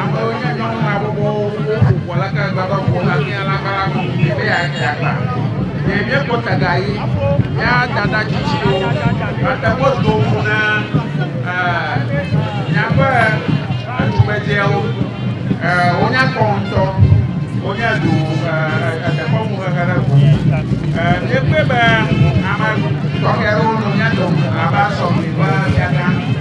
Amewo nye nyɔnu habɔbɔwo, woƒo ʋɔ le ke gbagba ʋɔ le amia le agba la me be yeatsi agba. Ɖe míekpɔ taga ɣi ya dada tsitsiwo mate ŋu ado ŋu na míaƒe tugbedzɛwo. Wonya kɔ ŋutɔ. Wonye ɖo dekɔnu xexe ɖe ŋu. Míekpɔe be ame tɔxɛ aɖewo nɔ mía dome abe asɔgli ƒe fiagã.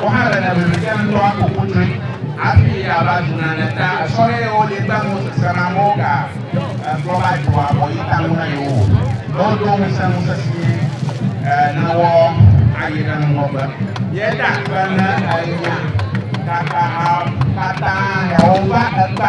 Wò hã le nème be sia ŋutɔ aƒo ƒu nyuie hafi yeava zu nane ta sɔhɛ ye wòli kple nu sese na amewo ga gblɔ va dzro abɔ yi ta ŋu na yewo o. Ne wodo ŋusẽ nu sesĩe nèwɔ ayi ɖe ŋgɔgbe. Ye da akpe ne ènya gakpamaawo katã hewo va ekpe.